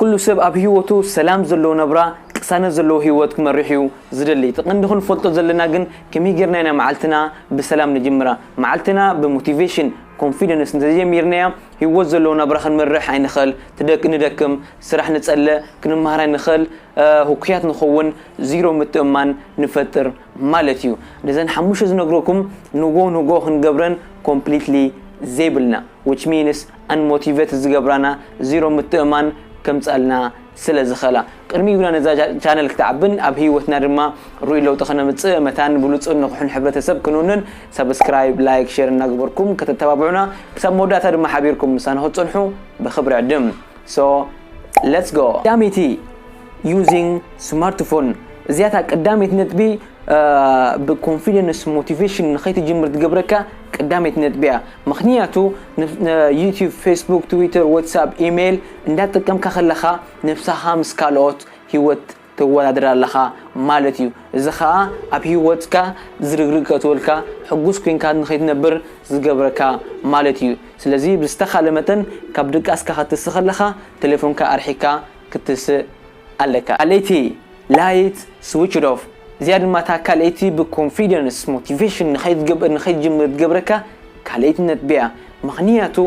ኩሉ ሰብ ኣብ ሂወቱ ሰላም ዘለዎ ናብራ ቅሳነት ዘለዎ ሂወት ክመርሕ እዩ ዝደሊ እቲ ቀንዲ ክንፈልጦ ዘለና ግን ከመይ ጌርና ኢና መዓልትና ብሰላም ንጅምራ መዓልትና ብ ሞቲቬሽን ኮንፊደንስ እንተዘይጀሚርናያ ሂወት ዘለዎ ናብራ ክንመርሕ ኣይንኽእል ትደክ ንደክም ስራሕ ንጸልእ ክንመሃር ኣይንኽእል ህኩያት ንኸውን ዚሮ ምትእምማን ንፈጥር ማለት እዩ ነዘን ሓሙሽተ ዝነግረኩም ንጎ ንጎ ክንገብረን ኮምፕሊትሊ ዘይብልና which means ኣንሞቲቨት ዝገብራና ዚሮ ምትእምማን ከምጽኣልና ስለ ዝኸላ ቅድሚ ኢልና ነዛ ቻነል ክትዓብን ኣብ ሂወትና ድማ ሩኡይ ለውጢ ከነምጽእ መታን ብሉጽን ንቑሕን ሕብረተሰብ ክንውንን ሳብስክራይብ ላይክ ሸር እናገበርኩም ከተተባብዑና ክሳብ መወዳእታ ድማ ሓቢርኩም ምሳና ክትጸንሑ ብኽብሪ ዕድም so let's go ዳሚቲ Using Smartphone፣ እዚኣ እታ ቀዳመይቲ ነጥቢ ብኮንፊደንስ ሞቲቬሽን ንኸይትጅምር ትገብረካ ቀዳመይቲ ነጥቢ እያ። ምኽንያቱ ዩትዩብ፣ ፌስቡክ፣ ትዊተር፣ ዋትስኣፕ፣ ኢሜይል እንዳተጠቀምካ ከለኻ ነብስኻ ምስ ካልኦት ህይወት ተወዳድር ኣለኻ ማለት እዩ። እዚ ኸኣ ኣብ ህይወትካ ዝርግርግ ከእትወልካ፣ ሕጉስ ኮይንካ ንኸይትነብር ዝገብረካ ማለት እዩ። ስለዚ ብዝተኻለ መጠን ካብ ድቃስካ ክትትስእ ከለኻ ተሌፎንካ ኣርሒቅካ ክትስእ ኣለካ ካልኣይቲ ላይት ስዊችድ ኦፍ እዚኣ ድማ እታ ካልኣይቲ ብኮንፊደንስ ሞቲቬሽን ንከይትገብር ንከይትጅምር ትገብረካ ካልኣይቲ ነጥቢ እያ ምክንያቱ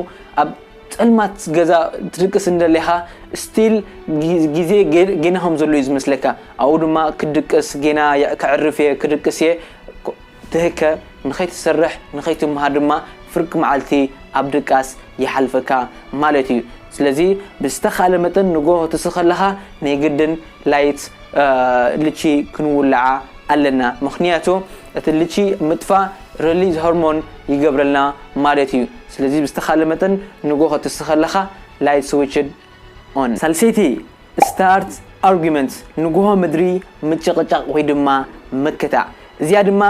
ኣብ ጸልማት ገዛ ትድቅስ እንደለካ ስቲል ግዜ ጌና ከም ዘሎ እዩ ዝመስለካ ኣብኡ ድማ ክድቅስ ጌና ከዕርፍ እየ ክድቅስ እየ ትህከ ንኸይትሰርሕ ንኸይትምሃር ድማ ፍርቂ መዓልቲ ኣብ ድቃስ ይሓልፈካ ማለት እዩ ስለዚ ብዝተኻለ መጠን ንጎሆ ትስ ከለኻ ናይ ግድን ላይት ልቺ ክንውልዓ ኣለና ምኽንያቱ እቲ ልቺ ምጥፋ ረሊዝ ሆርሞን ይገብረልና ማለት እዩ ስለዚ ብዝተኻለ መጠን ንጎሆ ትስ ከለኻ ላይት ስዊችድ ኦን። ሳልሰይቲ ስታርት ኣርጉመንት ንጉሆ ምድሪ ምጭቕጫቕ ወይ ድማ ምክታዕ፣ እዚኣ ድማ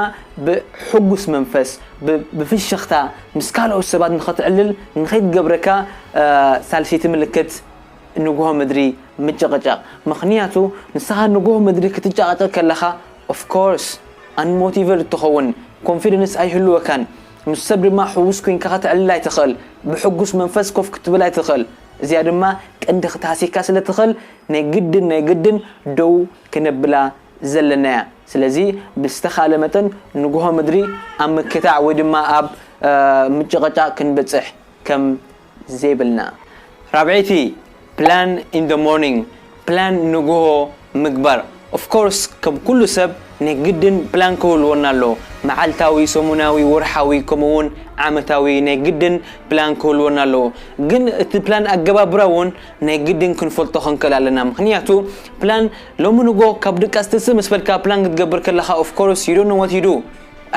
ብሕጉስ መንፈስ ብ ብፍሽኽታ ምስ ካልኦት ሰባት ንኸትዕልል ንኸይትገብረካ ሳልሰይቲ ምልክት ንጉሆ ምድሪ ምጭቕጫቕ ምኽንያቱ ንስኻ ንጉሆ ምድሪ ክትጨቓጨቕ ከለኻ ኦፍ ኮርስ ኣንሞቲቨርድ ትኸውን ኮንፊደንስ ኣይህልወካን ምስ ሰብ ድማ ሕጉስ ኮይንካ ከተዕልል ኣይትኽእል ብሕጉስ መንፈስ ኮፍ ክትብል ኣይትኽእል እዚኣ ድማ ቀንዲ ክትሃሲካ ስለ ትኽል ናይ ግድን ናይ ግድን ደው ክነብላ ዘለና እያ። ስለዚ ብዝተኻለ መጠን ንጉሆ ምድሪ ኣብ ምክታዕ ወይ ድማ ኣብ ምጭቕጫቕ ክንበጽሕ ከም ዘይብልና። ራብዐይቲ፣ Plan in the morning፣ ፕላን ንግሆ ምግባር of course ከም ኩሉ ሰብ ናይ ግድን ፕላን ክህልወና ኣለዎ መዓልታዊ ሰሙናዊ ወርሓዊ ከምኡ ውን ዓመታዊ ናይ ግድን ፕላን ክህልወና ኣለዎ ግን እቲ ፕላን ኣገባብራ ውን ናይ ግድን ክንፈልጦ ክንክእል ኣለና ምኽንያቱ ፕላን ሎሚ ንግሆ ካብ ድቃስ ትንስእ ምስ በልካ ፕላን ክትገብር ከለኻ of course you don't know what you do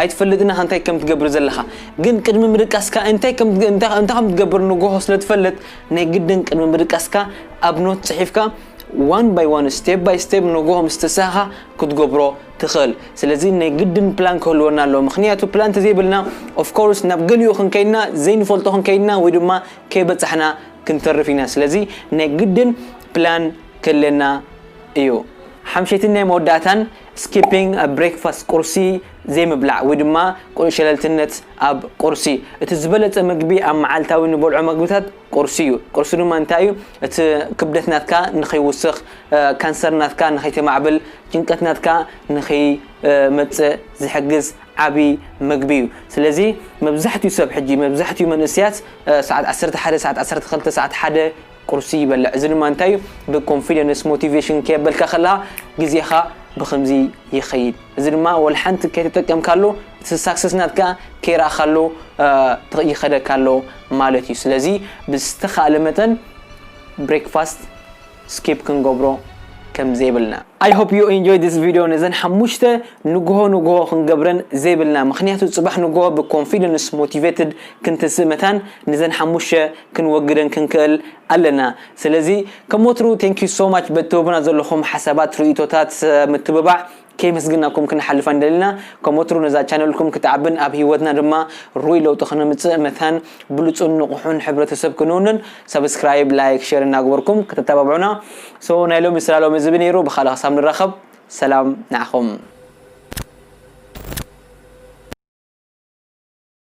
ኣይትፈልጥን ኢኻ እንታይ ከም ትገብር ዘለኻ ግን ቅድሚ ምድቃስካ እንታይ ከም እንታይ እንታይ ከም ትገብር ንጎሆ ስለ ትፈልጥ ናይ ግድን ቅድሚ ምድቃስካ ኣብ ኖት ጽሒፍካ ዋን ባይ ዋን ስቴፕ ባይ ስቴፕ ንጎሆ ምስ ተሳኻ ክትገብሮ ትኽእል ስለዚ ናይ ግድን ፕላን ክህልወና ኣለዎ ምኽንያቱ ፕላን እንተዘይብልና ኦፍ ኮርስ ናብ ገሊኡ ክንከይድና ዘይንፈልጦ ክንከይድና ወይ ድማ ከይበጻሕና ክንተርፍ ኢና ስለዚ ናይ ግድን ፕላን ክህልየና እዩ ሓምሸይትን ናይ መወዳእታን Skipping a breakfast ቁርሲ ዘይምብላዕ ወይ ድማ ሸለልትነት ኣብ ቁርሲ እቲ ዝበለጸ መግቢ ኣብ መዓልታዊ ንበልዖ መግብታት ቁርሲ እዩ። ቁርሲ ድማ እንታይ እዩ እቲ ክብደት ናትካ ንኸይውስኽ፣ ካንሰር ናትካ ንኸይተማዕብል፣ ጭንቀት ናትካ ንኸይመጽእ ዝሕግዝ ዓቢ መግቢ እዩ። ስለዚ መብዛሕትኡ ሰብ ሕጂ መብዛሕትኡ መንእሰያት ሰዓት ዓሰርተ ሓደ ሰዓት ዓሰርተ ክልተ ሰዓት ሓደ ቁርሲ ይበልዕ እዚ ድማ እንታይ እዩ ብ ኮንፊደንስ ሞቲቬሽን ከየበልካ ከለካ ግዜካ ብክምዚ ይከይድ እዚ ድማ ወልሓንቲ ከይተጠቀምካሉ እቲ ሳክሰስ ናትካ ከይረኣካሉ ይከደካ ኣሎ ማለት እዩ ስለዚ ብዝተካእለ መጠን ብሬክፋስት ስኪፕ ክንገብሮ ከም ዘይብልና። I hope you enjoy this video ነዘን ሓሙሽተ ንጉሆ ንጉሆ ክንገብረን ዘይብልና ምክንያቱ ጽባሕ ንጉሆ ብ ኮንፊደንስ ሞቲቬትድ ክንትስእ መታን ነዘን ሓሙሽተ ክንወግደን ክንክእል ኣለና ስለዚ ከም ወትሩ thank you so much በቲ ትህቡና ዘለኹም ሓሳባት ርእይቶታት ምትብባዕ ከየመስገናኩም ክንሓልፍ ኣይንደልና ከም ወትሩ ነዛ ቻነልኩም ክትዓብን ኣብ ህይወትና ድማ ርኡይ ለውጢ ክነምጽእ መታን ብሉጽን ንቑሑን ሕብረተሰብ ክንውንን subscribe like share እናግበርኩም ከተተባብዑና so ናይ ሎሚ ስላሎም እዝቢ ነይሩ ብኻልእ ክሳብ ንራኸብ ሰላም ንዓኹም